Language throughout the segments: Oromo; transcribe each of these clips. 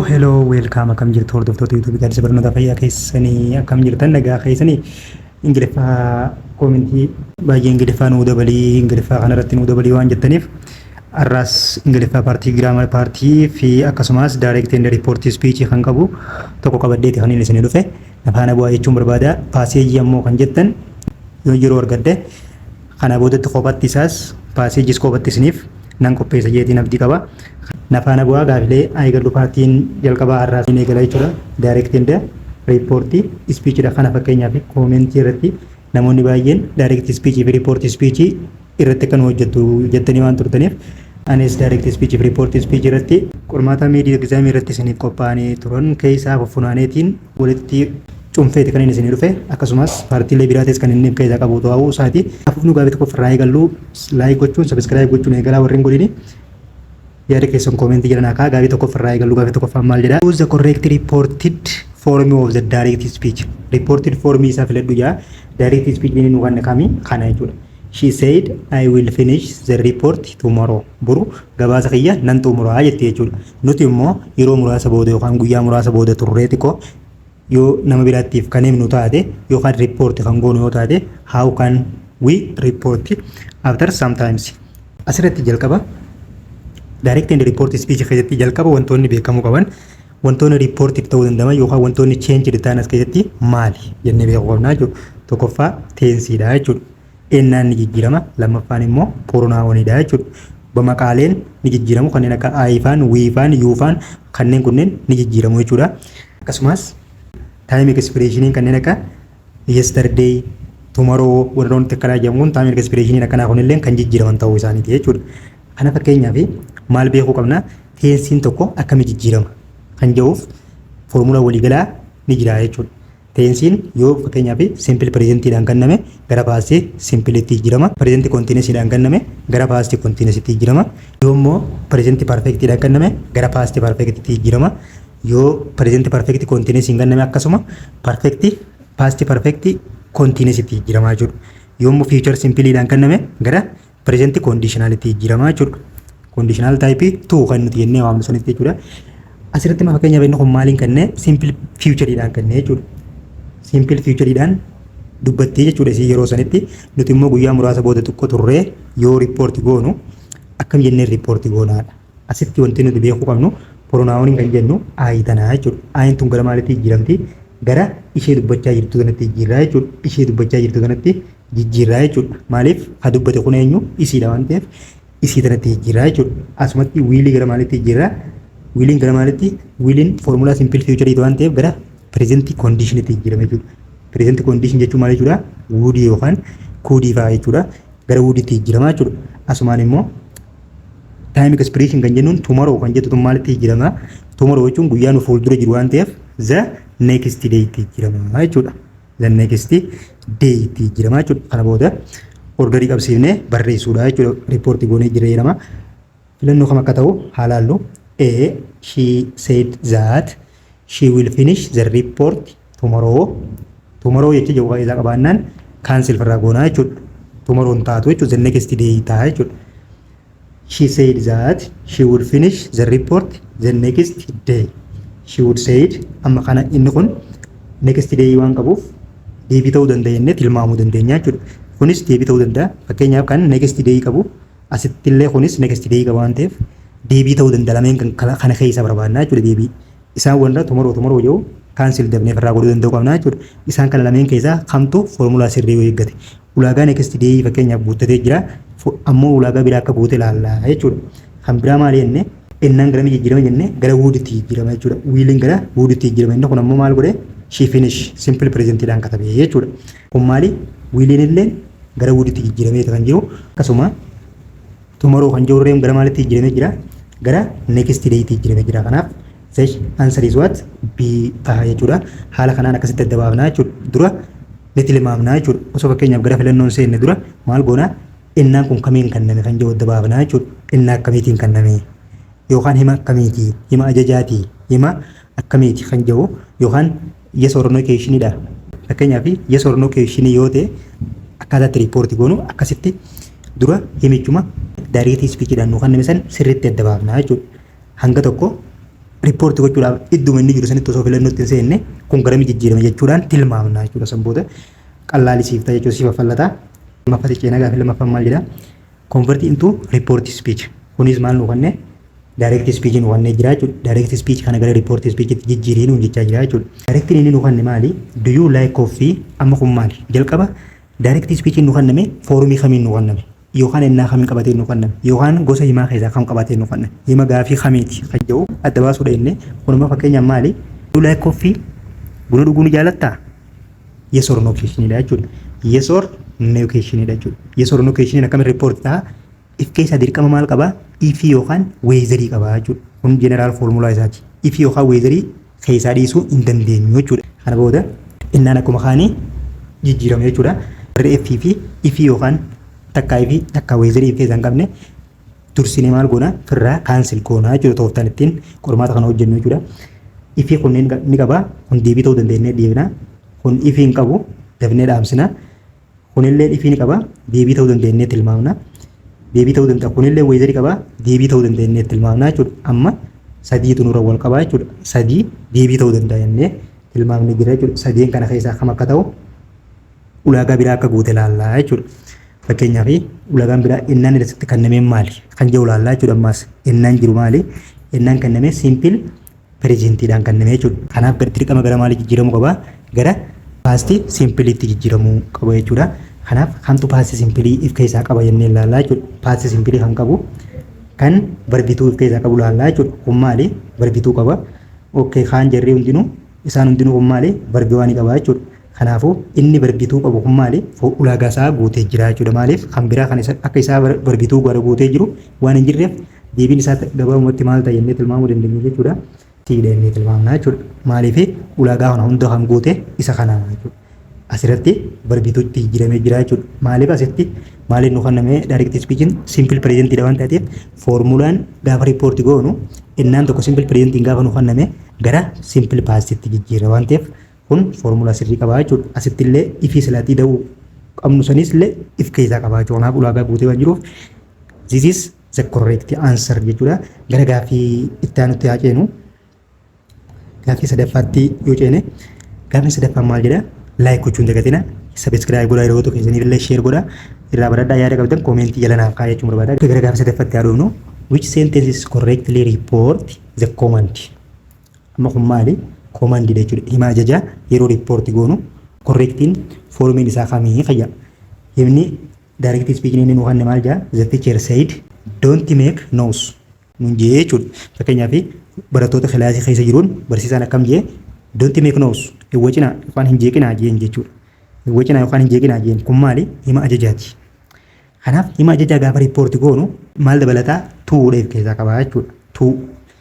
Hello, welcome akkam jirtu hordoftoota YouTube gaaddisa barnoota fayyaa keessanii akkam jirtan nagaa keessanii ingiliffaa koomintii baay'ee ingiliffaa nuu dabalii ingiliffaa kanarratti nuu dabalii waan jettaniif arraas ingiliffaa paartii giraamar paartii fi akkasumas direct and report speech kan qabu tokko qabaddeeti kan inni isin dhufe afaana bu'aa jechuun barbaada paaseejii ammoo kan jettan yoo yeroo argadde Kanaa boodatti kophatti isaas passages kophatti isiniif nan qopheessa jeetiin abdii qaba. Na faana bu'aa gaafilee haa eegallu paartiin jalqabaa har'aa ni eegala jechuudha. Direct and report speech dha kana fakkeenyaaf comment irratti namoonni baay'een direct speech fi report speech irratti akka nu hojjettu jettanii waan turtaniif anis direct speech fi report speech irratti Qormaata mid exam irratti isiniif qophaa'anii turan keessaa fuffunaaneetiin walitti cunfeeti kan inni isinii dhufe akkasumaas paartiilee biraatis kan inni keeysa qabu ta'uu isaati haa fufnuu gaafii tokkof irraa eegalluu like gochuun subscribe gochuun eegalaa warri hin godhini yaada keessan comment jala naa kaa'a gaafii tokkof irraa eegalluu gaafii tokkoffaan maal jedha choose the correct reported form of the direct speech reported form isaa filadhu jaa direct speech inni nu kanne kami kana jechuudha she said i will finish the report tomorrow boru gabaasa kiyya nan xumuraa jetti jechuudha nuti immoo yeroo muraasa booda yookaan guyyaa muraasa booda turree xiqqoo Yoo nama biraattiif kan himnu taate yookaan report kan goonu yoo taate how can we report after sometimes. Asirratti jalqaba direct and report speech keessatti jalqaba wantoonni beekamuu qaban wantoonni reportiif ta'uu danda'an yookaan wantoonni changed ta'an as keessatti maali jennee beekuu qabna jechuudha. Tokkoffaa teensiidha jechuudha. ennaan ni jijjiirama lammaffaan immoo poronaawoniidha jechuudha. Bamaqaaleen ni jijjiiramu kanneen akka aayifaan, wiifaan, yuufaan kanneen kunneen ni jijjiiramu jechuudha. Akkasumas taayim ekispireeshiniin kanneen akka yesterday, tomorrow warra wanti akkanaa jedhamu kun taayim ekispireeshiniin akkanaa kunillee kan jijjiiraman ta'uu isaaniiti jechuudha. Kana fakkeenyaaf maal beekuu qabna teensiin tokko akkamii jijjiirama kan jedhuuf foormulaa waliigalaa ni jira jechuudha. Teensiin yoo fakkeenyaaf simple present dhaan kanname gara past simple tti jijjirama. Present continuous dhaan kanname gara past continuous tti jijjirama. Yoo immoo present perfect dhaan kanname gara past perfect tti jijjirama. Yoo present perfect continuous hin kanname akkasuma perfect past perfect continuous tti jijjirama jechuudha. Yoo immoo future simple dhaan kanname gara Present conditional itti jijjiiramaa jechuudha. Conditional type 2 kan nuti jennee waamnu sanitti jechuudha. Asirratti ma fakkeenyaaf inni kun maaliin kennee simple future dhaan kennee jechuudha. Simple future dhaan dubbattii jechuudha isii yeroo sanitti nuti immoo guyyaa muraasa booda xiqqoo turree yoo riippoorti goonu akkam jennee riippoorti goonaadha. Asitti wanti nuti beekuu qabnu pronaawoniin kan jennu ayi tanaa jechuudha. Ayin tun gara maalitti jijjiiramti? Gara ishee dubbachaa jirtu kanatti jijjiirraa jechuudha. Ishee dubbachaa jirtu kanatti jijjiirraa jechuudha. Maaliif ha dubbate kun eenyu isiidha waan ta'eef isii tanatti jijjiirraa jechuudha. Asumatti wiilii gara maalitti jijjiirraa? Wiiliin gara maalitti? Wiiliin foormulaa simpil fiichariiti waan ta'eef gara pireezentii koondiishinitti jijjiirame jechuudha. Pireezentii koondiishin jechuun maal jechuudha? Wuudii yookaan kuudii fa'aa jechuudha. Gara wuudiitti jijjiirama jechuudha. Asumaan immoo taayim ekspireeshin kan jennuun tumaroo kan jettu tun maalitti jijjiirama? Tumaroo jechuun guyyaa nu fuuldura jiru waan ta'eef za neekistii deeyitti jijjiirama jechuudha. the next day itti jijjiiramaa jechuudha. Kana booda ordarii qabsiifnee barreessuudha jechuudha. Riippoortii goonee jijjiirama. Filannoo kam akka ta'u haa laallu. A. She said that she will finish the report tomorrow. Tomorrow jecha jedhu isaa qabaannaan kaansel firraa goonaa jechuudha. Tomorrow hin taatu jechuudha. The next day ta'a jechuudha. she said that she would finish the report the next day she would said amma kana inni kun next day waan qabuuf deebii ta'uu danda'a jennee tilmaamuu dandeenya jechuudha. Kunis deebii ta'uu danda'a. Fakkeenyaaf kan next day qabu asittillee kunis next day qaba waan ta'eef deebii ta'uu danda'a lameen kan kana keessa barbaadna jechuudha deebii. Isaan warra tomorrow tomorrow jedhu cancel dafnee ofirraa godhuu danda'uu qabna jechuudha. Isaan kana lameen keessaa kamtu formulaa sirrii yoo eeggate. Ulaagaa next day fakkeenyaaf guuttatee jira. Ammoo ulaagaa biraa akka guute ilaalla jechuudha. Kan biraa maal jenne ennaan garamii jijjiirama jenne gara wooditti jijjiirama jechuudha. Wiiliin gara wooditti jijjiirama inni kun ammoo maal godhe she finish simple present dhaan katabe jechuudha. Kun maali wiiliin illee gara wooditti jijjiirameeti kan jiru akkasuma Tomorrow kan jiru gara maalitti jijjiiramee jira? Gara next day tti jijjiiramee jira. Kanaaf sesh answer is what? B taha jechuudha. Haala kanaan akkasitti adda baafna jechuudha. Dura ni tilmaamna jechuudha. Osoo fakkeenyaaf gara filannoon seenne dura maal goona? Ennaan kun kamiin kenname kan jiru adda baafna jechuudha. Ennaa akkamiitiin kenname? Yookaan hima akkamiiti? Hima ajajaati? Hima akkamiiti kan jiru? Yookaan Yes or no question dha. Fakkeenyaaf yes or no question yoo ta'e akkaataa itti report goonu akkasitti dura himichuma direct speech dhaan nu kenname san sirriitti adda baafna jechuudha. Hanga tokko report gochuudhaaf idduma inni jiru sanitti osoo filannootti hin seenne kun garami jijjiirame jechuudhaan tilmaamna jechuudha. San booda qallaalisiifta jechuudha si faffallata. Lammaffatti ceenaa gaaffii lammaffaan maal jedha? Convert into report speech. Kunis maal nu kenne? Direct speech nu kennee jira jechuudha. Direct speech kana gara report speech tti jijjiirii nuun jechaa jira jechuudha. Direct inni nu kenne maali? Do you like coffee? Amma kun maali? Jalqaba direct speech nu kenname foorumii kamiin nu kenname? Yookaan ennaa kamiin qabatee nu kenname? Yookaan gosa himaa keessaa kam qabatee nu kenname? Hima gaafii kamiiti kan jedhu adda baasuudha jennee kunuma fakkeenyaaf maali? Do you like coffee? Buna dhuguu ni jaalattaa? yes or no question dha jechuudha. Yes or no question dha jechuudha. Yes or no question akkamitti report ta'a? If keessaa dirqama maal qaba? If yookaan weezarii qaba jechuudha. Kun general formula isaati. If yookaan weezarii keessaa dhiisuu hin dandeenyu jechuudha. Kana booda innaan akkuma kaanii jijjiirama jechuudha. Warri F fi if yookaan takkaa fi takkaa weezarii if keessaa hin qabne Dursinee maal goona? Firraa cancel goona jechuudha tooftaan ittiin qormaata kana hojjennu jechuudha. Ifii kunneen ni qaba. Kun deebii ta'uu dandeenyee deebina. Kun ifii hin qabu. Dafnee dhaamsina. Kunillee ifii ni qaba. Deebii ta'uu dandeenyee tilmaamna. Deebii ta'uu danda'a. Kunillee weezarii qaba. Deebii ta'uu dandeenyee tilmaamna jechuudha. Amma sadiitu nurra wal qabaa jechuudha. Sadii deebii ta'uu danda'a jennee tilmaamni jira jechuudha. Sadeen kana keessaa kam akka ta'u ulaagaa biraa akka guute ilaalla jechuudha. Fakkeenyaaf ulaagaan biraa ennaan irratti kennamee maali kan jedhu ilaalla jechuudha. Ammaas ennaan jiru maali? Ennaan kennamee siimpil pireezentiidhaan kennamee jechuudha. Kanaaf dirqama gara maalii jijjiiramuu qaba? Gara paastii siimpiliitti jijjiiramuu qaba jechuudha. Kanaaf kamtu paastii siimpilii if keessaa qaba jennee ilaalla jechuudha. Paastii siimpilii kan qabu kan barbituu if keessaa qabu ilaalla jechuudha. Kun maali? Barbituu qaba. Okkee kaan jarri hundinuu isaan hundinuu kun maali? Barbiwaa ni qaba jechuudha. Kanaafuu, inni bargituu qabu kun maali? Fo, ulaagaa isaa guutee jira jechuudha. Maaliif? Kan biraa kan isa, akka isaa bar, bargituu gara guutee jiru waan hin jirreef deebiin isaa ta, gabaabumatti maal ta'a jennee tilmaamuu dandeenya jechuudha? T dha jennee tilmaamna jechuudha. Maaliif? Ulaagaa kana hunda kan guute isa kana jechuudha. Asirratti bargituutti jijjiiramee jira jechuudha. Maaliif asitti maaliin nu kenname direct speechin simple present dha waan taateef foormulaan gaafa report goonu ennaan tokko simple presentiin gaafa nu kenname gara simple past tti jijjiirra waan ta'eef Kun foormulaa sirrii qaba jechuudha. Asitti illee ifii silaa ida'uu qabnu sanis illee if keessaa qaba jechuudha. Kanaaf ulaagaa guutee waan jiruuf this is the correct answer jechuudha. Gara gaaffii itti aanutti haa ceenu. Gaaffii sadaffaatti yoo ceene gaaffii sadaffaan maal jedha? Laayik gochuun dagatina. Sabiskiraayib godhaa yeroo tokko keessaniif illee sheer godhaa. Irraa baradhaa yaada qabdan koomentii jala naaf kaa'aa jechuun barbaada. Gara gaaffii sadaffaatti haa dhufnu. Which sentence is correctly report the command? Amma kun maali? Command dha jechuudha. Hima ajajaa yeroo report goonu correctiin formiin isaa kamii kan jedhu. Himni direct speaking inni nu kanne maal jedha? The teacher said don't make noise nun jedhee jechuudha. Fakkeenyaaf barattoota kilaasii keessa jiruun barsiisaan akkam jedhee don't make noise hin wacinaa yookaan hin jeeqinaa jeen jechuudha. Hin wacinaa yookaan hin jeeqinaa jeen kun maali? Hima ajajaati. Kanaaf hima ajajaa gaafa report goonu maal dabalataa? Tuu dheef keessaa qabaa jechuudha. Tuu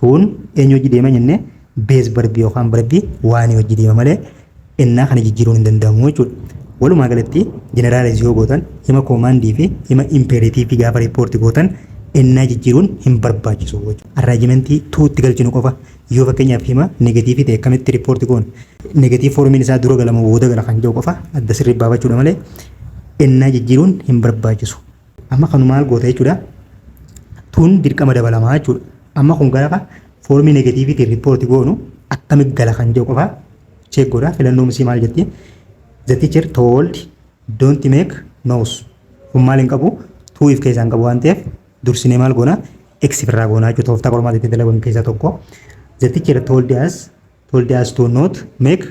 Tuun eenyu wajji deema jenne beez barbii yookaan barbii waanii wajji deema malee ennaa kana jijjiiruun hin danda'amu jechuudha. Walumaa galatti jeneraalaiz yoo gootan hima koomaandii fi hima impeeretiivii gaafa riippoorti gootan ennaa jijjiiruun hin barbaachisu jechuudha. Arraajimentii tuutti galchinu qofa. Yoo fakkeenyaaf hima negatiivii ta'e akkamitti riippoorti goona? Negatiiv foormiin isaa dura gala moo booda gala kan jedhu qofa adda sirrii baafachuudha malee ennaa jijjiiruun hin barbaachisu. Amma kanu maal goota jechuudha. Tun dirqama dabalamaa jechuudha. Amma kun gaafa foormii negatiiviitiin riippoorti goonu akkamitti gala kan jedhu qofa cheek godha. Filannoo misii maal jetti? The teacher told don't make noise. Kun maal hin qabu? Tuu if keessaa hin qabu waan ta'eef dursinee maal goona? X irraa goona jechuudha. Tooftaa qormaata itti dalagan keessaa tokko. The teacher told us told us to not make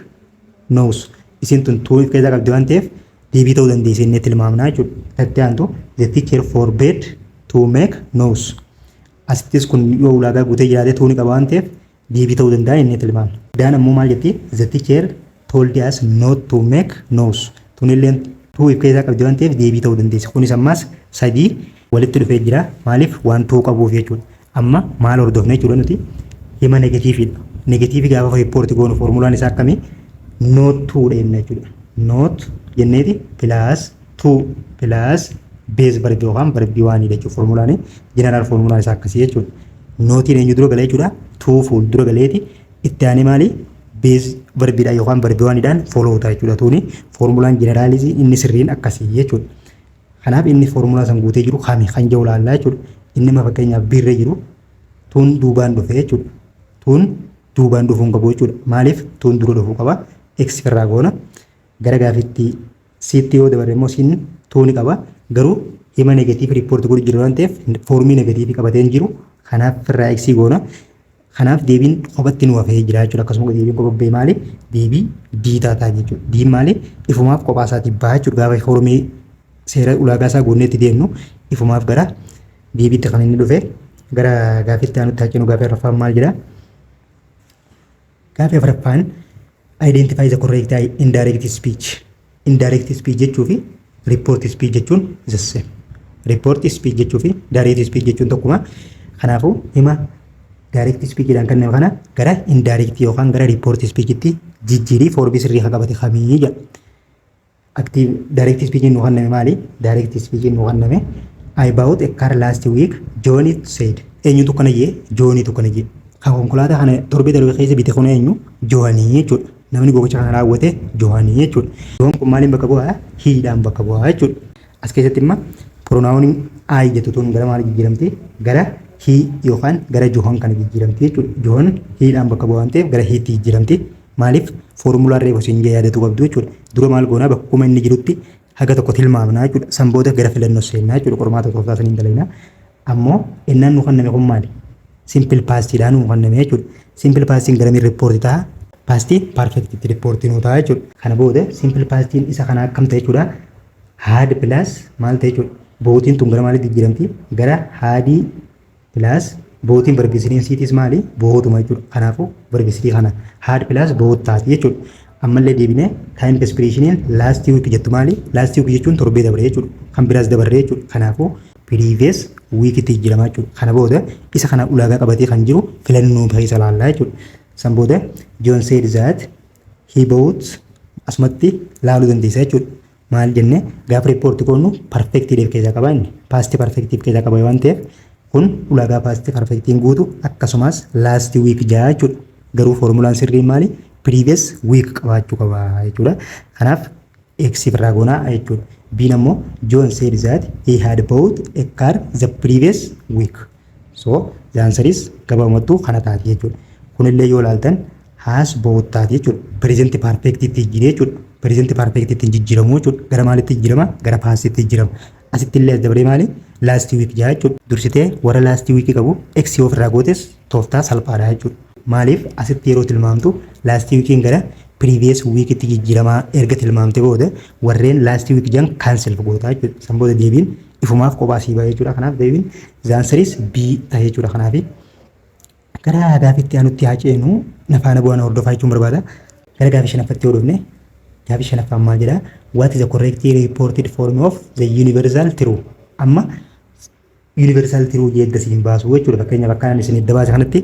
noise isin tun tuu if keessaa qabdi waan ta'eef deebii ta'uu dandeessi inni tilmaamnaa jechuudha. Tattee aantu the teacher forbade to make noise. Asittis kun yoo ulaagaa guutee jiraate tuu ni qaba waan ta'eef deebii ta'uu danda'a inni tilmaamna. Daan ammoo maal jetti the teacher told us not to make noise. Tunilleen tuu if keessaa qabdi waan ta'eef deebii ta'uu dandeessi. Kunis ammaas sadii walitti dhufee jira maaliif waan tuu qabuuf jechuudha. Amma maal hordofna jechuudha nuti hima negatiiviidha. Negatiivii gaafa riippoorti goonu foormulaan isaa akkamii noot tuudha jenna jechuudha. Noot jenneeti pilaas tuu pilaas beez barbi yookaan barbi waanii jechuudha foormulaanii jeneraal foormulaan isaa akkasii jechuudha. Nootiin eenyu dura gala jechuudha tuu fuul dura galeeti itti aanee maali beez barbiidhaan yookaan barbi waaniidhaan fooloo ta'a jechuudha tuuni foormulaan jeneraalii inni sirriin akkasii jechuudha. Kanaaf inni foormulaa san guutee jiru kami kan jedhu ilaallaa jechuudha. Inni amma fakkeenyaaf B irra jiru tuun duubaan dhufe jechuudha. Tuun duubaan dhufuu hin qabu jechuudha. Maaliif tuun dura dhufuu qaba? X irraa goona. Gara gaafiitti siitti yoo dabarre immoo siin tuu ni qaba. Garuu hima negatiivii riippoorti godhu jira waan ta'eef foormii negatiivii qabatee hin jiru. Kanaaf irraa X goona. Kanaaf deebiin kophatti nu hafee jira jechuudha. Akkasuma deebiin kopha ba'e maali? Deebii D taataa jechuudha. Diin maali? Ifumaaf kophaa isaatiin baha jechuudha. Gaafa foormii seera ulaagaa isaa guunnee itti deemnu ifumaaf gara deebiitti kan inni dhufe gara gaafiitti aanutti haa ceenu gaafii afraffaan maal jedha? Gaafii afraffaan identify the correct indirect speech. Indirect speech jechuu fi report speech jechuun is the same. Report speech jechuu fi direct speech jechuun tokkuma. Kanaafuu hima direct speech jedhan kanneen kana gara indirect yookaan gara report speech itti jijjiirii foorbii sirrii kan qabate kamii jedha. Active direct speech nu kanname maali? Direct speech nu kanname I bought a car last week John said. Eenyutu kana jee? Joonitu kana jee. Kan konkolaataa kana torbee darbe keessa bite kun eenyu? Joonii jechuudha. Namni gocha kana raawwate Johani jechuudha. John kun maaliin bakka bu'aa? He dhaan bakka bu'aa jechuudha. As keessatti imma pronaawoniin I jettu tun gara maali jijjiiramti? Gara he yookaan gara John kana jijjiiramti jechuudha. John he dhaan bakka bu'aa waan ta'eef gara he tti jijjiiramti. Maaliif? Foormulaan reefu siin jee yaadatuu qabdu jechuudha. Dura maal goonaa bakkuma inni jirutti haga tokko tilmaamnaa jechuudha. San booda gara filannoo seennaa jechuudha. Qormaata tooftaa saniin dalaynaa. Ammoo ennaan nu kanname kun maali? Simple past dhaan nu kanname jechuudha. Simple pastiin garamiin report ta'a? Past perfect itti report nu ta'a jechuudha. Kana booda simple pastiin isa kana akkam ta'a jechuudha? Had plus maal ta'a jechuudha? Bootiin tun gara maalitti jijjiiramti? Gara haadii plus bootiin barbeesiriin siitis maali? Bootuma jechuudha. Kanaafuu barbeesirii kana had plus boot taati jechuudha. Ammallee deebinee time expression'iin last week jettu maali? Last week jechuun torbee dabre jechuudha. Kan biraas dabarre jechuudha. Kanaafuu previous week itti jijjiirama jechuudha. Kana booda isa kana ulaagaa qabatee kan jiru filannoo keessa ilaalla jechuudha. San booda John said that he bought asumatti laaluu dandeessa jechuudha. Maal jenne gaafa riippoorti koonu perfective keessaa qaba inni past perfective keessaa qaba waan ta'eef kun ulaagaa past perfective guutu akkasumas last week ja'a jechuudha. Garuu foormulaan sirriin maali? Previous week qabaachuu qaba jechuudha. Kanaaf X birraa goona jechuudha. B'n ammoo John said that he had bought a car the previous week. So the answer is gabaabumattuu kana taati jechuudha. Kunillee yoo ilaaltan has bought taati jechuudha. Present perfect itti jijjiire jechuudha. Present perfect itti hin jijjiiramu jechuudha. Gara maalitti jijjiirama? Gara past itti jijjiirama. Asitti illee as dabaree maali? Last week jaa jechuudha. Dursitee warra last week qabu x yoo ofirraa gootes tooftaa salphaadha jechuudha. Maaliif asitti yeroo tilmaamtu last weekiin gara previous weekitti jijjiiramaa erga tilmaamte booda warreen last week jan cancel goota jechuudha. San booda deebiin ifumaaf kophaa sii ba'a jechuudha. Kanaaf deebiin the answer is B dha jechuudha. Kanaafi Gara gaafii itti aanutti haa ceenu. Na faana bu'aa na hordofaa jechuun barbaada. Gara gaafii shanaffatti yoo dhufne gaafii shanaffaa ammaa jedha. What is the correct reported form of the universal true? Amma universal true jedha isin baasu jechuudha. Fakkeenyaaf akka ani isin edda baase kanatti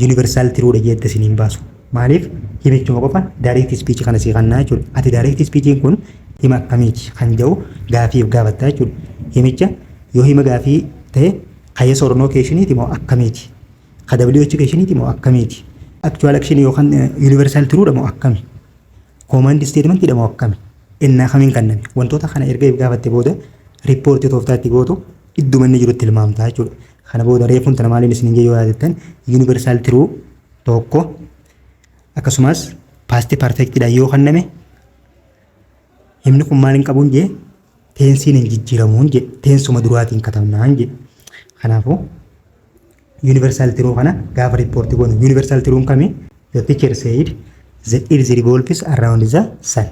universal true dha jedha isin baasu. Maaliif himichuma qofa direct speech kana sii kannaa jechuudha. Ati direct speech kun hima akkamiiti kan jedhu gaafiif gaafatta jechuudha. Himicha yoo hima gaafii ta'e Ka yes or no keeshiniiti moo akkamiiti? Ka WH keeshiniiti moo akkamiiti? Actual action yookaan universal true dha moo akkami? Command statement dha moo akkami? Ennaa kamiin kanname? Wantoota kana erga if gaafatte booda riippoortii tooftaa itti gootu idduma inni jirutti tilmaamta jechuudha. Kana booda reefuun tana maaliin isin jee yoo yaadattan universal true tokko akkasumas past perfect dha yoo kanname himni kun maaliin qabuun jee teensiin hin jijjiiramuun jedhe teensuma duraatiin katabnaan jedhe kanaafuu yuunivarsaal tiruu kana gaafa riippoortii goonu yuunivarsaal tiruun kami the teacher said the earth revolves around the sun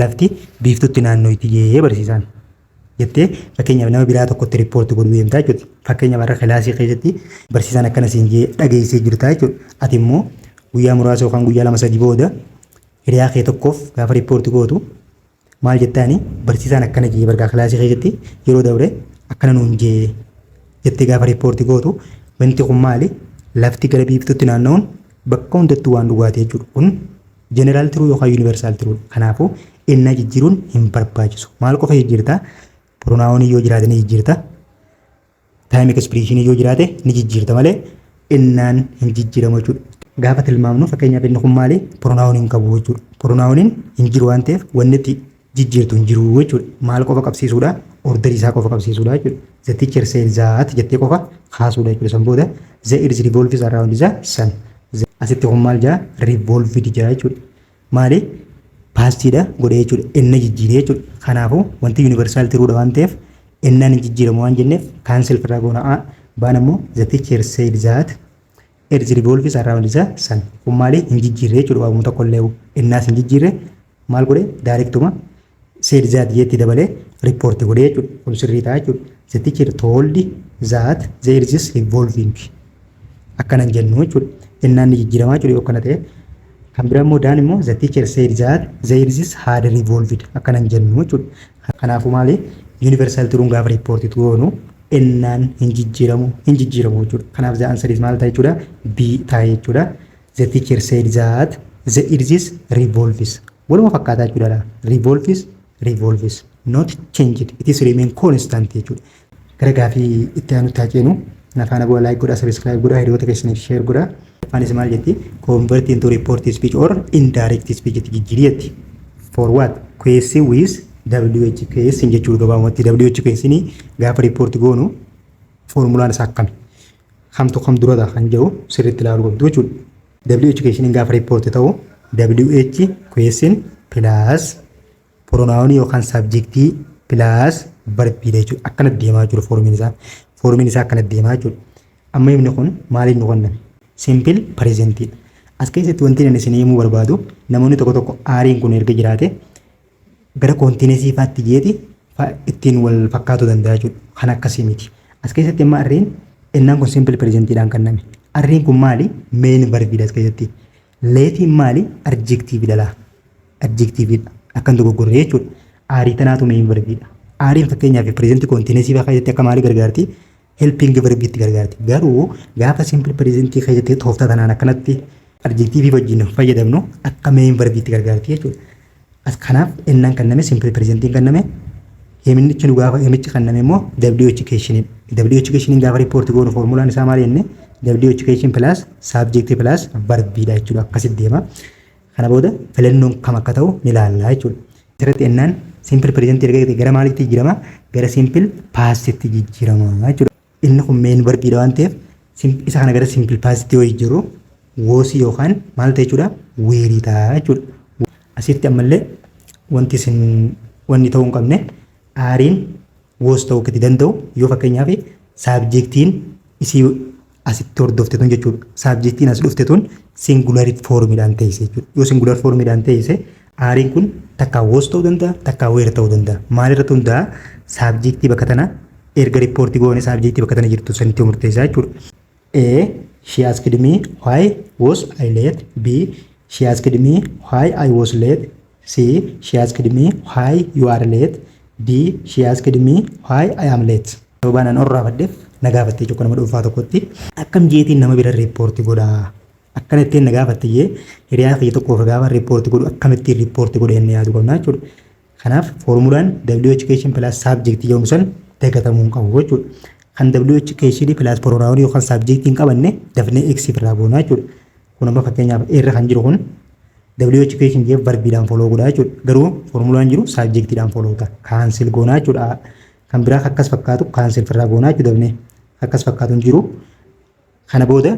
lafti biiftutti naannootti jee barsiisaan jettee fakkeenyaaf nama biraa tokkotti riippoortii godhuu deemtaa jechuudha fakkeenyaaf har'a kilaasii keessatti barsiisaan akkana siin jee dhageessee jirtaa jechuudha ati immoo guyyaa muraasa yookaan guyyaa lama sadii booda hiriyaa kee tokkoof gaafa riippoortii gootu Maal jettaani barsiisaan akkana jee bargaa kilaasii keessatti yeroo dabre akkana nuun jee jettee gaafa riippoorti gootu wanti kun maali lafti gara biiftuutti naanna'uun bakka hundattuu waan dhugaati jechuudha. Kun jeneraal tiruu yookaan yuunivarsaal tiruu kanaafuu innaa jijjiiruun hin barbaachisu. Maal qofa jijjiirta? Piroonaawonii yoo jiraatanii jijjiirta. Taayim ekspiriishinii yoo jiraate ni jijjiirta malee innaan hin jijjiiramu jechuudha. Gaafa tilmaamnu fakkeenyaaf inni kun maali? Pronaawunii hin qabu jechuudha. Pronaawuniin hin jiru waan ta'eef wanni itti jijjiirtu hin jiru jechuudha. Maal qofa qabsiisuudha? Ordarii isaa qofa qabsiisuudha jechuudha. The teacher said that jettee qofa kaasuudha jechuudha. San booda the earth revolves around the sun. Asitti kun maal jaa? Revolved jaa jechuudha. maali paastiidha godhee jechuudha enna jijjiiree jechuudha kanaafuu wanti yuunivarsaal tiruudha waan ta'eef ennaan hin jijjiiramu waan jenneef kaansel firraa goona a baan ammoo the teacher said that erzi revolves around the sun kun maali hin jijjiirree jechuudha waamuma tokko illee ennaas hin jijjiirree maal godhe daarektuma said that jeetti dabalee report godhe jechuudha. Kun sirrii ta'a jechuudha. The teacher told that there is this revolving. Akkana hin jennu jechuudha. Ennaan ni jijjiiramaa jechuudha yoo akkana ta'e. Kan biraa immoo daan immoo the teacher said that there is this had revolved. Akkana hin jennu jechuudha. Kanaafuu maali? Universal turuun gaafa report goonu ennaan hin jijjiiramu hin jijjiiramu jechuudha. Kanaaf the answer is maal ta'a jechuudha? B ta'a jechuudha. The teacher said that the iris revolves. Waluma fakkaataa jechuudha dha. Revolves, revolves. Not changed. It is remain constant jechuudha. Gara gaafii itti aanutti haa ceenu. Nafaana bu'aa like godhaa, subscribe godhaa, hiriyoota keessaniif share godhaa. Afaanis maal jetti? Convert into report speech or indirect speech jetti jijjiirii jetti. For what? QS with WHQS jechuudha gabaabumatti. WHQS ni gaafa report goonu foormulaan isaa akkami? kamtu kam durata kan jedhu sirriitti ilaaluu qabdu jechuudha. WH keeshiniin gaafa riippoorti ta'u WH keeshin pilaas pronoun yookaan sabjektii pilaas barbiidha jechuudha. Akkana deemaa jiru foormiin isaa. Foormiin isaa akkana deemaa jechuudha. Amma himni kun maaliif nu kenname? Simpil pireezentiidha. As keessatti wanti inni isin himuu barbaadu namoonni tokko tokko aariin kun erga jiraate gara koontiinesii faatti jeeti fa ittiin wal fakkaatu danda'a jechuudha. Kan akkasii miti. As keessatti amma arriin ennaan kun simple presentidhaan kanname. Arriin kun maali? Main verbiidha as keessatti. Leefiin maali? Adjectividha laa. Adjectividha. Akkan dogoggorre jechuudha. Aarii tanaatu main verbiidha. Aariin fakkeenyaaf present koontiinesii faa keessatti akka maali gargaarti? helping verb itti gargaarti. Garuu gaafa simple present keessatti tooftaa tanaan akkanatti adjectivii wajjin hin fayyadamnu akka main verb itti gargaarti jechuudha. As kanaaf ennaan kanname simple present hin kanname himnichi nu gaafa himichi kanname immoo WH keeshiniin. WH keeshiniin gaafa report goonu formulaan isaa maal jenne WH keeshin plus subject plus verb dha jechuudha akkasitti deema. Kana booda filannoon kam akka ta'u ni ilaalla jechuudha. Asirratti ennaan simple present erga ta'e gara maaliitti jijjiirama? Gara simple past'tti jijjiirama jechuudha. Inni kun main verb'dha waan ta'eef isa kana gara simple past'tti yoo jijjiirru was yookaan maal ta'e jechuudha? Were ta'a jechuudha. Asitti ammallee wanti isin wanni ta'uu hin qabne aariin was ta'uu akka itti danda'u yoo fakkeenyaaf saabjektiin isii asitti hordofte tun jechuudha. Saabjektiin as dhufte tun singular foormiidhaan teesse jechuudha. Yoo singular foormiidhaan teesse aariin kun takkaa was ta'uu danda'a takkaa where ta'uu danda'a. Maalirratti hundaa'a saabjektii bakka tana erga riippoortii goone saabjektii bakka tana jirtu sanitti murteessaa jechuudha. A. She asked me why was I late? B. She asked me why I was late? C. She asked me why you are late? D. She asked me why I am late? Sababaan an orraafadheef na gaafattee jechuu nama dhuunfaa tokkotti akkam jeetiin nama bira riippoorti godha akkana ittiin na gaafatte jee hiriyaa kiyya tokkoof gaafa riippoorti godhu akkamittiin riippoorti godhe inni yaadu qabna jechuudha. Kanaaf foormulaan WH keeshin pilaas saabjektii jedhamu san dagatamuu hin qabu jechuudha. Kan WH keeshinii pilaas poronaawunii yookaan saabjektii hin qabanne dafnee X irraa goonaa jechuudha. Kun amma fakkeenyaaf irra kan jiru kun WH keeshin jee varbiidhaan foloo godhaa jechuudha. Garuu foormulaan jiru saabjektiidhaan foloo ta'a. Kaansil goonaa jechuudha. Kan biraa akkas fakkaatu kaansil firraa goonaa jechuudha dafnee. Akkas fakkaatu hin jiru. Kana booda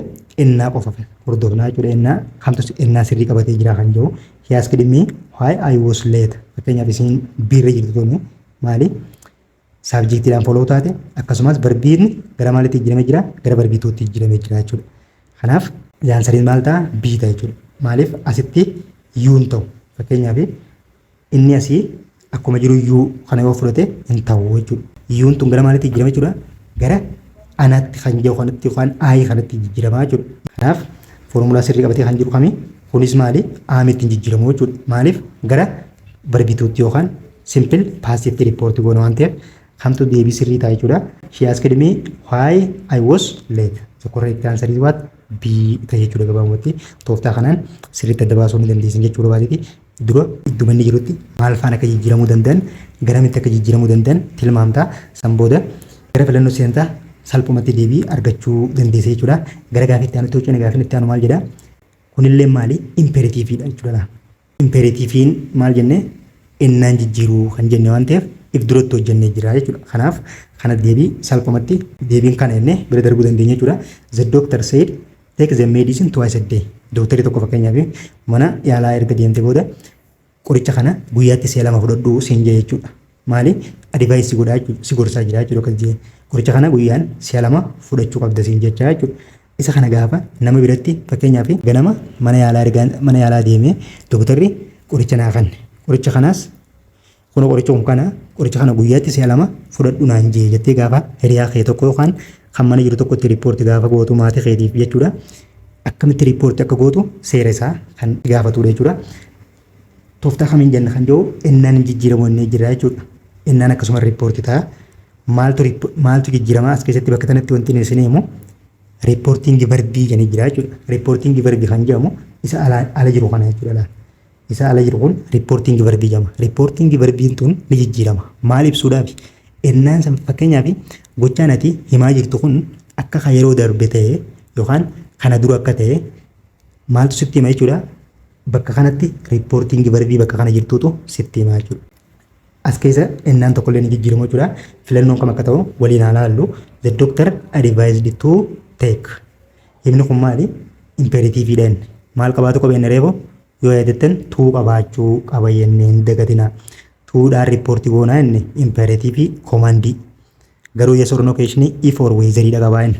ennaa qofa hordofnaa jechuudha. Ennaa kamtu ennaa sirrii qabatee jira kan jiru. He asked me why I was late. Fakkeenyaaf isiin biirra jirtu tuni maali? Saabjektiidhaan foloo taate akkasumas barbiin gara maalitti jijjiiramee jira? Gara barbii tuutti jijjiiramee jira jechuudha. Kanaaf yaansariin maal ta'a? Bii ta'a jechuudha. Maaliif asitti yuun ta'u? Fakkeenyaaf Inni asii akkuma jiru yuu kana yoo fudhate hin ta'u jechuudha. Yuun tun gara maalitti jijjiirama jechuudha? Gara anatti kan jiru kanatti yookaan aayii kanatti jijjiirama jechuudha. Kanaaf foormulaa sirrii qabatee kan jiru kami? Kunis maali? Aamitti hin jijjiiramu jechuudha. Maaliif? Gara barbituutti yookaan simpil paasitti riippoorti goona waan ta'eef kamtu deebii sirrii ta'a jechuudha. She asked me why I was late. The correct answer is what? B ta'e jechuudha gabaabumatti. Tooftaa kanaan sirriitti adda baasuu ni dandeessan jechuu barbaadeti. dura idduma inni jirutti maal faan akka jijjiiramuu danda'an, garamitti akka jijjiiramuu danda'an tilmaamta. San booda gara filannoo seenta, salphumatti deebii argachuu dandeessa jechuudha. Gara gaafii itti aanutti hocine gaafiin itti aanu maal jedha? Kunillee maali? Impeeritiiviidha jechuudha. Impeeritiiviin maal jenne? Ennaan jijjiiruu kan jenne waan ta'eef if duratti hojjennee jira jechuudha. Kanaaf kana deebii salphumatti deebiin kana jennee bira darbuu dandeenya jechuudha. The doctor said Take the medicine twice a day. Dooktarri tokko fakkeenyaaf mana yaalaa erga deemte booda qoricha kana guyyaatti si'a lama fudhadhu siin jee jechuudha. Maali adivaayis si godhaa jechuudha si gorsaa jira jechuudha akkas jee qoricha kana guyyaan si'a lama fudhachuu qabda siin jechaa jechuudha. Isa kana gaafa nama biratti fakkeenyaaf ganama mana yaalaa erga mana yaalaa deemee dooktarri qoricha naa kanne qoricha kanaas Kunoo qoricha kun kana, qoricha kana guyyaatti si'a lama fudhadhu naan jee jettee gaafa hiriyaa kee tokko yookaan kan mana jiru tokkotti riippoorti gaafa gootu maatii keetiif jechuudha. Akkamitti riippoorti akka gootu seera isaa kan gaafatudha jechuudha. Tooftaa kamiin jenna kan jiru ennaan hin jijjiiramu ennee jira jechuudha. Ennaan akkasuma riippoorti ta'a. Maaltu maaltu jijjiirama as keessatti bakka kanatti wanti isin himu riippoortiingi verbii jedhanii jira jechuudha. Riippoortiingi verbii kan jedhamu isa ala jiru kana jechuudha. isaa ala jiru kun riippoortiingi varbii jedhama. Riippoortiingi varbiin tun ni jijjiirama. Maal ibsuudhaafi? Ennaan san fakkeenyaaf gochaan ati himaa jirtu kun akka kan yeroo darbe ta'e yookaan kana dura akka ta'e maaltu sitti hima jechuudha. Bakka kanatti riippoortiingi varbii bakka kana jirtuutu sitti hima jechuudha. As keessa ennaan tokkollee ni jijjiiramu jechuudha. Filannoon kam akka ta'u waliin haa laallu. The doctor advised to take. Himni kun maali? Impeeratiiviidha inni. Maal qabaatu qaba inni reefoo? Yoo yaadattan tuu qabaachuu qaba jennee hin dagatina. Tuudhaan riippoortii goonaa inni impeeratiivii koomandii. Garuu yes or no keessanii if or weezeriidha qabaa inni.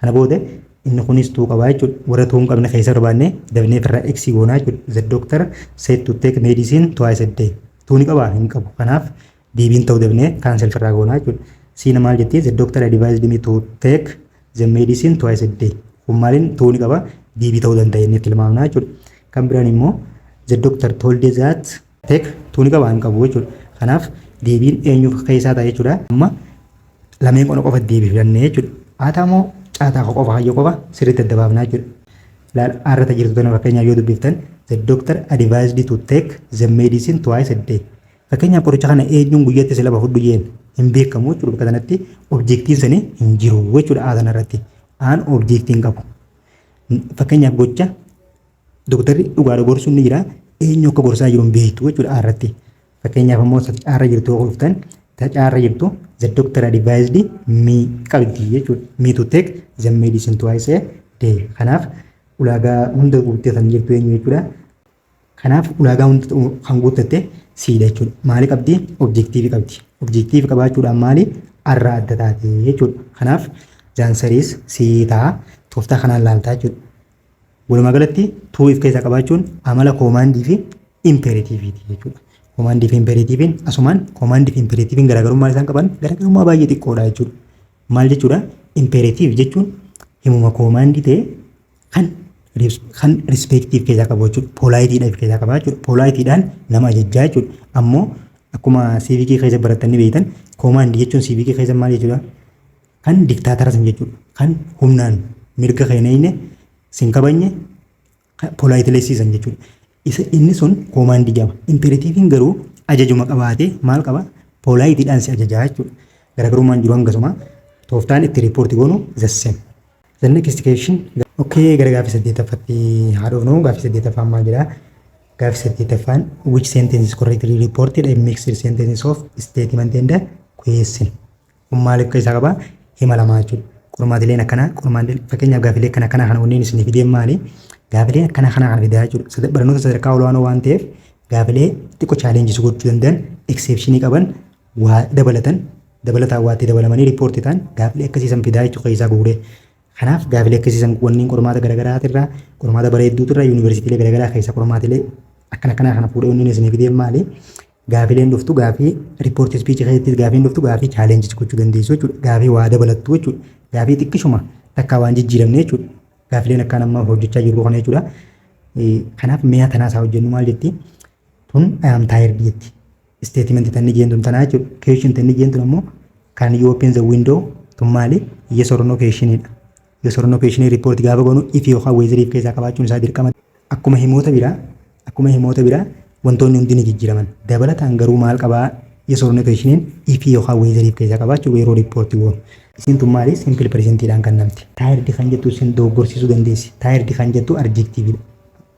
Kana booda inni kunis tuu qabaa jechuudha. Warra tuu hin qabne keessa barbaannee dafnee ofirraa x goonaa jechuudha. The doctor said to take medicine twice a day. Tuu ni qabaa? Hin qabu. Kanaaf deebiin ta'u debnee kaansel firraa goonaa jechuudha. Siina maal jettii? The doctor advised me to take the medicine twice a day. Kun maaliin ta'uu ni qaba? Deebii ta'uu danda'a jennee tilmaamnaa jechuudha. Kan biraan immoo the doctor told that take ta'uu ni qaba hin qabu jechuudha. Kanaaf deebiin eenyuuf keessaa ta'a jechuudha. Amma lameen qona qofa deebii filannee jechuudha. Haataa moo caataa qofa hayyoo qofa sirriitti adda baafnaa jechuudha. Laal arrata jirtu tana fakkeenyaaf yoo dubbiftan the doctor advised to take the medicine twice a day. Fakkeenyaaf qoricha kana eenyuun guyyatti si lama fudhu jeen hin beekamu jechuudha bakka sanatti objeektiin sani hin jiru jechuudha aa sanarratti aan objeektiin qabu. Fakkeenyaaf gocha doktarri dhugaadha gorsuun ni jira eenyu akka gorsaa jiru hin beektu jechuudha aa irratti. Fakkeenyaaf ammoo caarra jirtu yoo dhuftan caarra jirtu the doctor advised me qabdi jechuudha me to take the medicine twice a day. Kanaaf ulaagaa hunda guuttee kan jirtu eenyu jechuudha Kanaaf ulaagaa hunda kan guuttatte siidha jechuudha. Maali qabdi? Objektiivi qabdi. Objektiivi qabaachuudhaan maali? Arraa adda taate jechuudha. Kanaaf zaansariis sii ta'a. Tooftaa kanaan laaltaa jechuudha. Walumaa galatti tuu if keessaa qabaachuun amala koomaandii fi impeeratiiviiti jechuudha. Koomaandii fi impeeratiiviin asumaan koomaandii fi impeeratiiviin garaagarummaa isaan qaban garaagarummaa baay'ee xiqqoodha jechuudha. Maal jechuudha? Impeeratiiv jechuun himuma koomaandii ta'e kan kan rispektiif keessaa qabu jechuudha. Poolaayitiidha of keessaa qaba jechuudha. Poolaayitiidhaan nama ajajjaa jechuudha. Ammoo akkuma siivikii keessa baratanii beektan koomaandii jechuun siivikii keessa maal jechuudha? Kan diktaataras jechuudha. Kan humnaan mirga keenyayne sin kabajne poolaayitileessiisan jechuudha. Isa inni sun koomaandii jedhama. Impeeratiiviin garuu ajajuma qabaatee maal qaba? Poolaayitiidhaan si ajajaa jechuudha. Garaagarummaan jiru hangasuma. Tooftaan itti riippoorti goonu the same. The next question. Okay, gara gaaffii saddeettaffatti haa dhufnu. Gaaffii saddeettaffaan maal jedha? Gaaffii saddeettaffaan which sentence is correctly reported a mixed sentences of statement and question. Kun maal of keessaa qaba? Hima lamaa jechuudha. Qormaatileen akkanaa qormaatileen fakkeenyaaf gaafilee akkana akkanaa kana wanneen isin fideen maali? Gaafilee akkana akkanaa kana fidaa jechuudha. Sada- Barnoota sadarkaa olaanoo waan ta'eef gaafilee xiqqoo chaalenjii si gochuu danda'an ekseepshinii qaban waa dabalatan dabalataan waatti dabalamanii riippoortii ta'an gaafilee akkasii san fidaa jechuu keessaa guuree. Kanaaf gaafilee akkasii san wanneen qormaata garaagaraa irraa qormaata bareedduutu irraa yuunivarsiitiilee garaagaraa keessaa qormaatilee akkana akkanaa kana fuudhee wanneen isin fideen maali? Gaafileen dhuftu gaafii report speech keessattis gaafiin dhuftu gaafii challenges gochuu dandeessu jechuudha. Gaafii waa dabalattu jechuudha. Gaafii xiqqishuma takkaa waan jijjiiramne jechuudha. Gaafileen akkaan amma hojjechaa jirru kana jechuudha. Kanaaf mi'a tanaas haa hojjennu maal jetti? Tun I am tired jetti. Statement tanni jeen tun tanaa jechuudha. Question tanni jeen tun ammoo can you open the window tun maali? Yes or no question dha. Yes or no question report gaafa goonu if yookaan whether if keessaa qabaachuun isaa dirqama. Akkuma himoota biraa akkuma himoota biraa wantoonni hundi ni jijjiiraman. Dabalataan garuu maal qabaa yes or no question if yookaan whether if keessaa qabaachuu yeroo report goonu. Isin tun maali simple presentidhaan kan namti. Tired kan jettu isin dogoggorsiisuu dandeessi. Tired kan jettu adjectividha.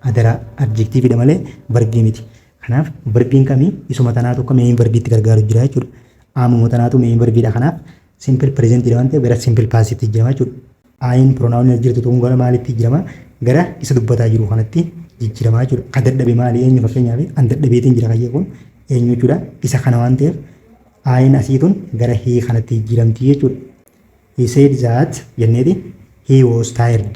Adaraa adjectividha malee verbii miti. Kanaaf verbiin kami isuma tanaatu akka main verbiitti gargaaru jira jechuudha. Aamuma tanaatu main verbiidha kanaaf Simple present dha waan ta'eef gara simple past tti jijjiirama jechuudha. Ayin pronoun as jirtu kun gara maalitti jijjiirama? Gara isa dubbataa jiru kanatti jijjiirama jechuudha. Ka dadhabe maali eenyu fakkeenyaaf an dadhabeetiin jira kayyee kun eenyu jechuudha. Isa kana waan ta'eef ayin asii tun gara hii kanatti jijjiiramti jechuudha. He said that jenneeti he was tired.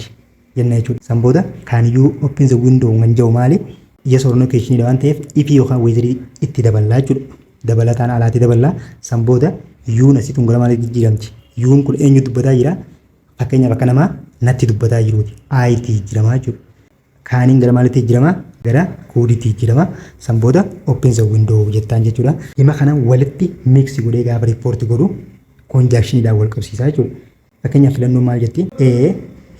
jenna jechuudha. San booda can you open the window kan jedhu maali? Yes or no question dha waan ta'eef if yookaan whether itti daballaa jechuudha. Dabalataan alaatti daballaa. San booda yuun asitti gara maaliitti jijjiiramti? Yuun kun eenyu dubbataa jira? Fakkeenyaaf akka namaa natti dubbataa jiruuti. Ayitti jijjiiramaa jechuudha. Kaaniin gara maaliitti jijjiirama? Gara kuuditti jijjiirama. San booda open the window jettaan jechuudha. Hima kana walitti mix godhee gaafa report godhu conjunctionidhaan wal qabsiisaa jechuudha. Fakkeenyaaf filannoon maal jetti? A.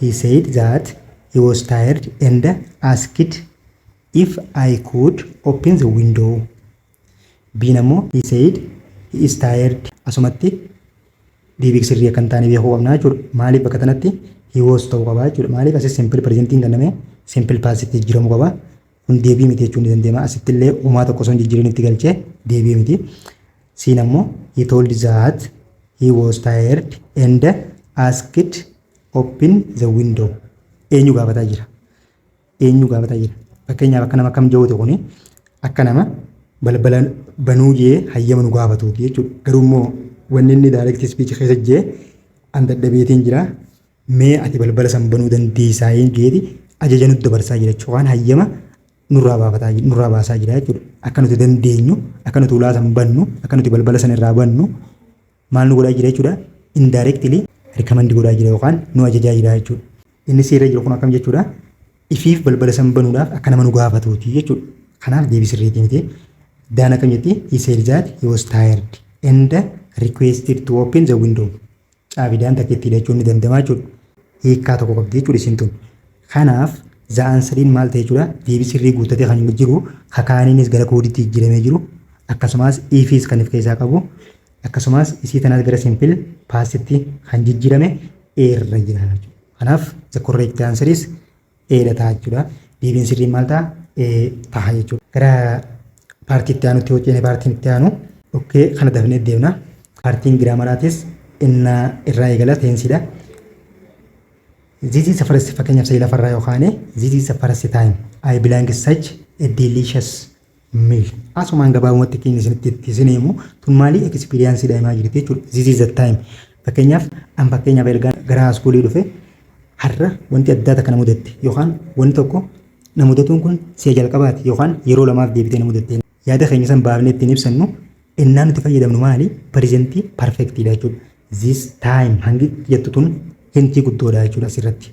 He said that he was tired and asked if I could open the window. B'n ammoo he said he is tired. Asumatti deebii sirrii akka hin taane beekuu qabna jechuudha. Maaliif bakka tanatti he was ta'uu qaba jechuudha. Maaliif asis simple presentiin kenname simple past itti jijjiiramuu qaba. kun deebii miti jechuun ni danda'ama. Asitti illee uumaa tokko osoo hin jijjiirin itti galchee deebii miti. Siin ammoo he told that he was tired and asked open the window. Eenyu gaafataa jira? Eenyu gaafataa jira? Fakkeenyaaf akka nama kam jawwate kuni akka nama balbala banuu jee hayyama nu gaafatuuti jechuudha. Garuu immoo wanni inni direct speech keessa jee an dadhabeetiin jira Mee ati balbala san banuu dandeessaayeen jeeti ajaja nutti dabarsaa jira jechuudha. Yookaan hayyama nurraa baafataa jira, nurraa baasaa jira jechuudha. Akka nuti dandeenyu, akka nuti ulaa san bannu, akka nuti balbala san irraa bannu maal nu godhaa jira jechuudha. Indirectly recommend godhaa jira yookaan nu ajajaa jira jechuudha. Inni seerri jiru kun akkam jechuudha. Ifiif balbala san banuudhaaf akka nama nu gaafatuuti jechuudha. Kanaaf deebii sirriitii miti. Daan akkam jetti? He said that he was tired and requested to open the window. Caabidaan takka itti hidhachuun ni danda'ama jechuudha. Hiikkaa tokko qabdi jechuudha isin tun. Kanaaf za'aan sadiin maal ta'e jechuudha deebii sirrii guuttatee kan inni jiru kakaaniinis gara koodiitti jijjiiramee jiru akkasumas ifiis kan of keessaa qabu akkasumas isii tanaas gara simpil paastitti kan jijjiirame eerra jira jechuudha. Kanaaf the correct answer is eedha ta'a jechuudha. Deebiin sirriin maal ta'a? Ee ta'a jechuudha. Gara paartii itti aanutti yoo ceene paartiin itti aanu okkee kana dafnee deemna. Paartiin giraamaraatis inna irraa eegala teensiidha. This is the first fakkeenyaaf sa'ii lafarraa yoo kaane this is the first time I belong such a delicious mil. Asumaan gabaabumatti keenya isinitti itti isin himu tun maalii ekspiriyaansiidha himaa jirti jechuudha. This is the time. Fakkeenyaaf an fakkeenyaaf ergaa gara haaskuulii dhufe har'a wanti addaa takka na mudatte yookaan wanti tokko na mudatuun kun si'a jalqabaati yookaan yeroo lamaaf deebitee na mudatte. Yaada keenya san baafnee ittiin ibsannu innaa nuti fayyadamnu maali? Parizentii parfektiidha jechuudha. This time hangi jettu tun hintii guddoodha jechuudha asirratti.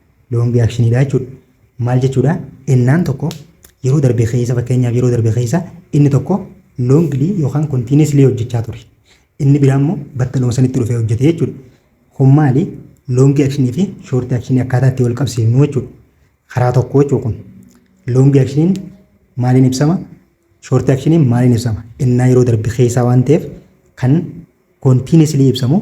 loongi aakshiniidha jechuudha. Maal jechuudha? Ennaan tokko yeroo darbe keessa fakkeenyaaf yeroo darbe keessa inni tokko loongilii yookaan kontiineesilii hojjechaa ture. Inni biraa immoo battaluma sanitti dhufee hojjete jechuudha. Kun maali? Loongi akshinii fi shoorti akshinii akkaataa itti wal qabsiifnu jechuudha. Karaa tokko jechuudha kun. Loongi akshiniin maaliin ibsama? Shoorti akshiniin maaliin ibsama? Ennaa yeroo darbe keessaa waan ta'eef kan kontiineesilii ibsamu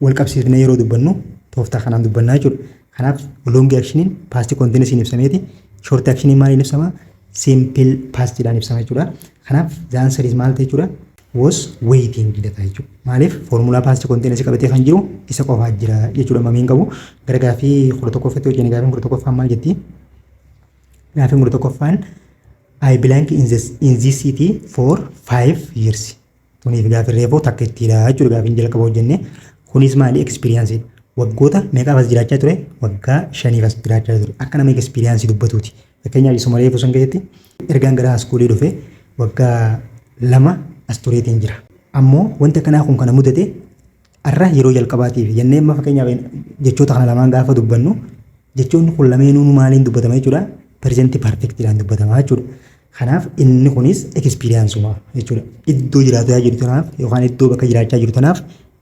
wal qabsiifnee yeroo dubbannu tooftaa kanaan dubbannaa jechuudha. Kanaaf loongi akshiniin paastii kontiinisiin ibsameeti. Shoorti akshiniin maaliin ibsama? Siimpil paastiidhaan ibsama jechuudha. Kanaaf zaansariis maal ta'e jechuudha? was waiting jedha jechuudha. Maaliif foormulaa paastii kontiinasii qabatee kan jiru isa qofaa jira jechuudha mamiin qabu. Gara gaafii kudha tokkoffatti hojjenne gaafiin kudha tokkoffaan maal jetti? Gaafiin kudha tokkoffaan I blank in this, in this city for five years. Tuniif gaafin reefuu takka ittiidha jechuudha gaafin jalqaba hojjenne. Kunis maali ekspiriyaansii waggoota meeqaaf as jiraachaa ture waggaa shaniif as jiraachaa ture akka nama ekspiriyaansii dubbatuuti. Fakkeenyaaf isuma reefuu san keessatti ergaan gara haaskuulii dhufe waggaa lama as tureetiin jira. Ammoo wanti akkanaa kun kana mudate Arra yeroo jalqabaatiif jennee amma fakkeenyaaf jechoota kana lamaan gaafa dubbannu jechoonni kun lameenuu maaliin dubbatama jechuudha pirezentii parfektiidhaan dubbatama jechuudha. Kanaaf inni kunis ekspiriyaansumaa jechuudha. Iddoo jiraataa jiru tanaaf yookaan iddoo bakka jiraachaa jiru tanaaf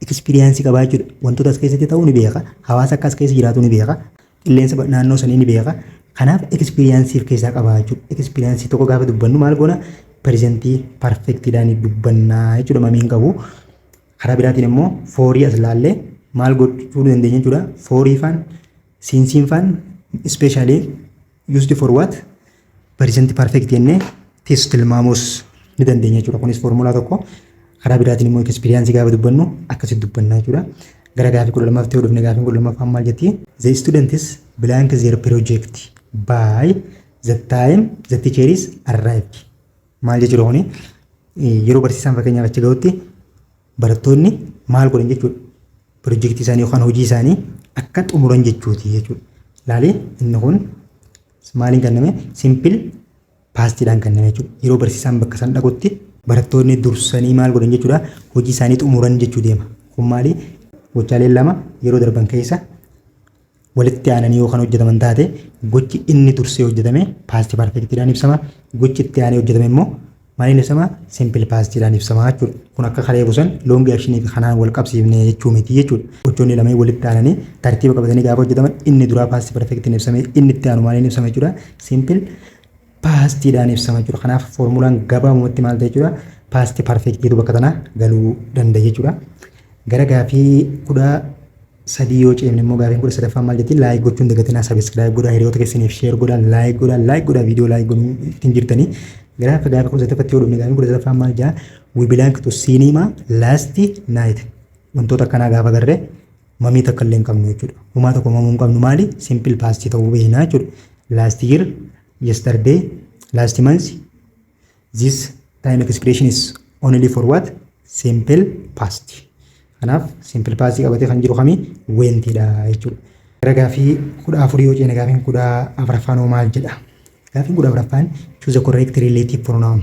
ekspiriyaansii qabaa jechuudha. Wantoota as keessatti ta'uu ni beeka. Hawaasa akka as keessa jiraatu ni beeka. Qilleensa naannoo sanii ni beeka. Kanaaf ekspiriyaansiif keessaa qabaa jechuudha. Ekspiriyaansii tokko gaafa dubbannu maal goona pirezentii parfektiidhaan dubbannaa jechuudha mamiin qabu. Karaa biraatiin immoo foorii as laallee maal gochuu dandeenya jechuudha. Foorii faan siinsiin faan ispeeshaalii used for what present perfect jennee tis tilmaamuus ni dandeenya jechuudha. Kunis foormulaa tokko. Karaa biraatiin immoo ekspiriyaansii gaafa dubbannu akkasitti dubbanna jechuudha. Gara gaafii kudha lamaaf ta'uu dhufne gaafiin kudha lamaffaan maal jetti? The students blank their project by the time the teacher is arrived. Maal jechuudha kuni? Yeroo barsiisaan fakkeenyaaf achi ga'utti barattoonni maal godhan jechuudha? Pirojektii isaanii yookaan hojii isaanii akka xumuran jechuuti jechuudha. Laali inni kun maaliin kenname? Simpil paastiidhaan kenname jechuudha. Yeroo barsiisaan bakka san dhaqutti barattoonni dursanii maal godhan jechuudha? Hojii isaanii xumuran jechuu deema. Kun maali? Gochaaleen lama yeroo darban keessa walitti aananii yoo kan hojjetaman taate gochi inni dursee hojjetame paastii parfeektiidhaan ibsama. Gochi itti aanee hojjetame immoo maaliin ibsama? Simpil paastiidhaan ibsama jechuudha. Kun akka kalee busan loongi akshinii fi kanaan wal qabsiifne jechuu miti jechuudha. Gochoonni lameen walitti aananii tartiiba qabatanii gaafa hojjetaman inni duraa paastii parfeektiin ibsame inni itti aanu maaliin ibsama jechuudha? Simpil paastiidhaan ibsama jechuudha. Kanaaf foormulaan gabaabumatti maal ta'e jechuudha? Paastii parfeektiitu bakka tanaa galuu danda'a jechuudha. Gara gaafii kudha sadii yoo ceemne immoo gaafiin kudha sadaffaa maal jetti? Laayik gochuun dagatinaa sabiskiraayib godhaa hiriyoota keessaniif sheer godhaa laayik godhaa laayik godhaa viidiyoo laayik godhuu ittiin jirtanii. Gara akka gaafii kudha sadaffatti yoo dhufne gaafiin kudha sadaffaa maal jaa? We belong to cinema last night. Wantoota akkanaa gaafa garree Mamii takka illee hin qabnu jechuudha. Homaa tokko mamuu hin qabnu maali? Simple past ta'uu beekna jechuudha. Last year, yesterday, last month, this time expression is only for what? Simple past. Kanaaf simple past qabatee kan jiru kami? Wentidha jechuudha. Gara gaafii kudha afurii yoo ceene gaafiin kudha afraffaan hoo maal jedha? Gaafiin kudha afraffaan choose the correct relative pronoun.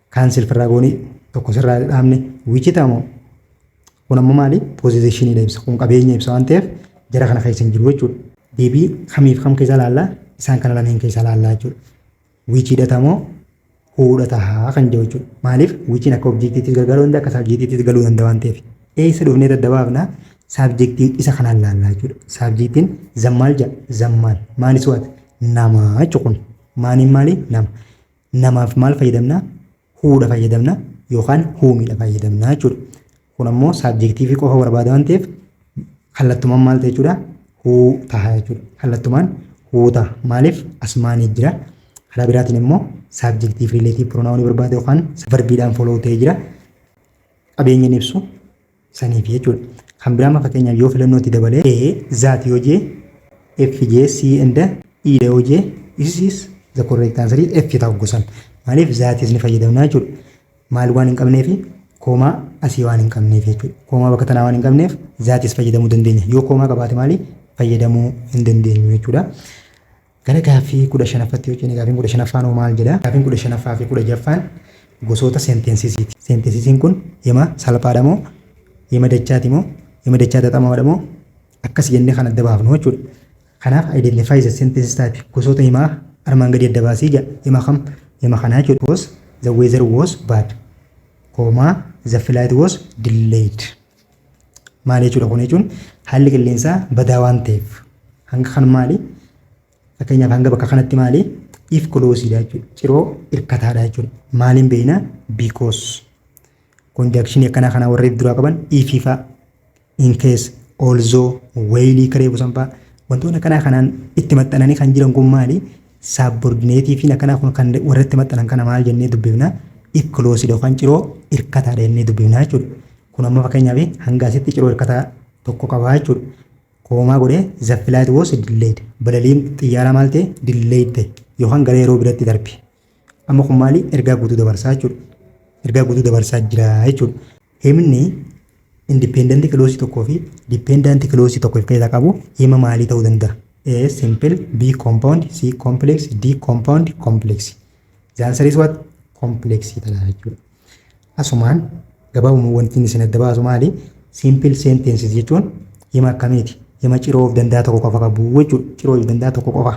Kaan silfirraa goonee tokko sirraa dhaabne wichita moo kun ammoo maali poozishinidha ibsa kun qabeenya ibsa waan ta'eef jara kana keessa hin jiru jechuudha. Deebii kamiif kam keessa laallaa isaan kana lameen keessa laallaa jechuudha. Wichidha tamoo huudha tahaa kan jiru jechuudha. Maaliif wichiin akka objektiittis gargaaruu danda'a akka saabjektiittis galuu danda'a waan ta'eef. Eessa dhufnee adda baafna saabjektii isa kanaan laallaa jechuudha. Saabjektiin zammaal jedha zammaal maalis waata namaa jechuudha kun maaniin maali nama. namaaf maal fayyadamna? Who dha fayyadamna yookaan whom dha fayyadamna jechuudha. Kun ammoo saabjektiivii qofa barbaada waan ta'eef kallattumaan maal ta'e jechuudha? Who taha jechuudha. Kallattumaan who taha. Maaliif? Asmaanii jira. Karaa biraatiin immoo saabjektiif riileetiif piroonaawunii barbaada yookaan varbiidhaan foloo ta'ee jira. Qabeenya hin ibsu. saniif jechuudha. Kan biraa amma fakkeenyaaf yoo filannoo itti dabalee A that yoo jee F jee C and E dha yoo jee this is the correct answer is F ta'u gosan. Maaliif that is ni fayyadamna jechuudha. Maal waan hin qabneef koomaa asii waan hin qabneef jechuudha. Koomaa bakka tanaa waan hin qabneef that is fayyadamuu dandeenya. Yoo koomaa qabaate maali fayyadamuu hin dandeenyu jechuudha. Gara gaaffii 15ffatti yoo ceene gaaffiin 15ffaan hoo maal jedha? Gaaffiin 15ffaa fi 16ffaan gosoota seenteensisiiti. Seenteensisiin kun hima salphaadha moo hima dachaati moo hima dachaa xaxamaadha moo akkas jennee kan adda baafnu jechuudha. Kanaaf identify the sentence type gosoota himaa armaan gadii adda baasii jedha. Hima kam? Hima kanaa jechuudha. Because the weather was bad. Koomaa the flight was delayed. Maal jechuudha kun jechuun haalli qilleensaa badaa waan ta'eef hanga kan maali fakkeenyaaf hanga bakka kanatti maali if kuloosiidha jechuudha ciroo irkataadha jechuudha maaliin beekna biikoos konjaakshinii akkanaa kanaa warri duraa qaban ifiifaa inkees oolzoo weeyilii karee busanfaa wantoonni akkanaa kanaan itti maxxananii kan jiran kun maali Saabbordineetiifiin akkanaa kun kan warratti maxxanan kana maal jennee dubbifna? If closed yookaan ciroo irkataadha jennee dubbifna jechuudha. Kun amma fakkeenyaaf hanga asitti ciroo irkataa tokko qaba jechuudha. Koomaa godhee the flight was delayed. Balaliin xiyyaaraa maal ta'e? Delayed ta'e yookaan gara yeroo biratti darbe. Amma kun maali? Ergaa guutuu dabarsaa jechuudha. Ergaa guutuu dabarsaa jira jechuudha. Himni independent clause tokkoo fi dependent clause tokko of keessaa qabu hima maalii ta'uu danda'a? A. Simple B. Compound C. Complex D. Compound Complex The answer is what? Complex ta'a jechuudha. Asumaan gabaabumatti wanti inni isin adda baasu maali? Simple sentences jechuun hima akkamiiti? Hima ciroo of danda'a tokko qofa qabu jechuudha. Ciroo of danda'a tokko qofa.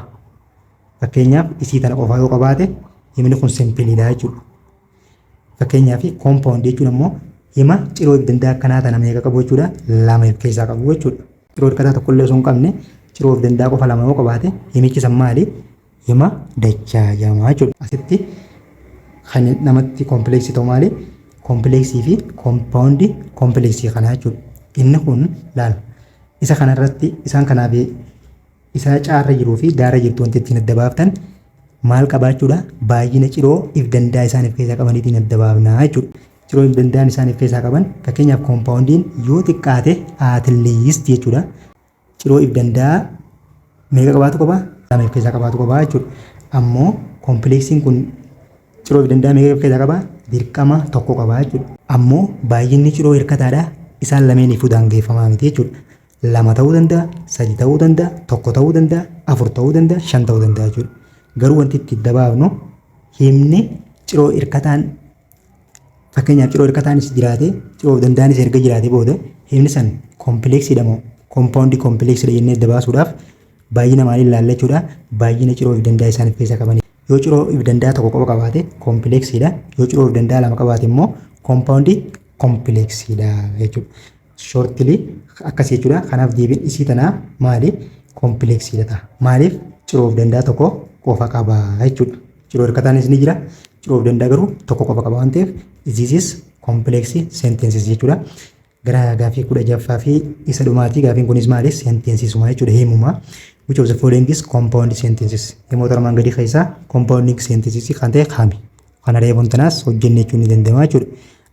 Fakkeenyaaf isii tana qofa yoo qabaate himni kun simple dha jechuudha. Fakkeenyaaf compound jechuun ammoo hima ciroo ibdandaa akkanaa tana meeqa qabu jechuudha lama if keessaa qabu jechuudha. Ciroo hirkataa tokkollee osoo hin qabne ciroo ibdandaa qofa lama yoo qabaate himichi san maali? Hima dachaa jedhama jechuudha. Asitti kan namatti kompleeksii ta'u maali? Kompleeksii fi compound kompleeksii kanaa jechuudha. Inni kun laal isa kanarratti isaan kanaaf isaa caarra jiruu fi gaara jirtu wanti ittiin adda baaftan maal qabaachuudha baay'ina ciroo if dandaa isaan if keessaa qabaniitiin adda baafnaa jechuudha. Ciroo if dandaan isaan if keessaa qaban fakkeenyaaf koompaawundiin yoo xiqqaate atleast jechuudha. Ciroo if dandaa meeqa qabaatu qaba? Lama if keessaa qabaatu qaba jechuudha. Ammoo koompleeksiin kun ciroo if dandaa meeqa if keessaa qaba? Dirqama tokko qaba jechuudha. Ammoo baay'inni ciroo hirkataadha isaan lameeniifuu daangeffamaa miti jechuudha. lama ta'uu danda'a, sadi ta'uu danda'a, tokko ta'uu danda'a, afur ta'uu danda'a, shan ta'uu danda'a jechuudha. Garuu wanti itti dabaafnu himni ciroo hirkataan fakkeenyaaf ciroo hirkataanis jiraate ciroo danda'anis erga jiraate booda himni san kompileeksiidha moo kompaawundii kompileeksiidha jennee adda baasuudhaaf baay'ina maaliin ilaalla jechuudha. Baay'ina ciroo fi danda'a isaan of keessaa qaban. Yoo ciroo fi danda'a tokko qofa qabaate kompileeksiidha. Yoo ciroo fi danda'a lama qabaate immoo kompaawundii kompileeksiidha jechuudha. shortly akkasii jechuudha. Kanaaf deebiin isii tanaa maali? Kompleeksiidha ta'a. Maaliif? Ciroo of danda'a tokko qofa qaba jechuudha. Ciroo hirkataanis ni jira. Ciroo of danda'a garuu tokko qofa qaba waan ta'eef iziisis kompleeksii seenteensii jechuudha. Gara gaafii kudha jaffaa fi isa dhumaati gaafiin kunis maali? Seenteensisuma jechuudha himumaa. Which of the following is compound sentences? Himoota armaan gadii keessaa compounding sentences kan ta'e kami? Kana reefuun tanaas hojjenne jechuun ni danda'ama jechuudha.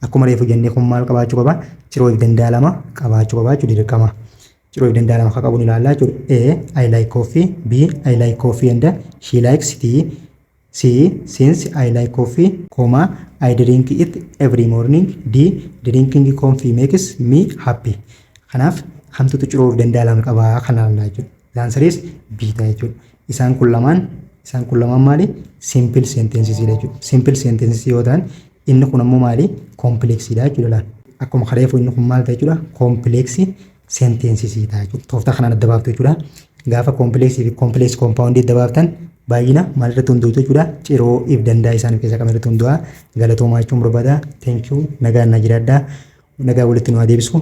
Akkuma reefu jennee kun maal qabaachuu qaba? Ciroo if danda'a lama qabaachuu qaba jechuudha dirqama. Ciroo if danda'a lama akka qabu ni ilaalla jechuudha. A. I like coffee. B. I like coffee and she likes tea. C. Since I like coffee, comma, I drink it every morning. D. Drinking coffee makes me happy. Kanaaf kamtutu ciroo if danda'a lama qaba kan ilaallaa jechuudha. The answer is B ta'a jechuudha. Isaan kun lamaan isaan kun lamaan maali? Simple sentences dha jechuudha. Simple sentences yoo ta'an inni kun ammoo maali? Complex dha jechuudha laal. Akkuma kareefu inni kun maal ta'a jechuudha? Complex sentences ta'a jechuudha. Tooftaa kanaan adda baaftu jechuudha. Gaafa complex fi complex compound adda baaftan baay'ina maal irratti hundootu jechuudha? Ciroo if dandaa isaan keessa kam irratti hundoo'a? Galatoomaa jechuun barbaada. Thank you. Nagaan na jiraadhaa. Nagaa walitti nu haa deebisu.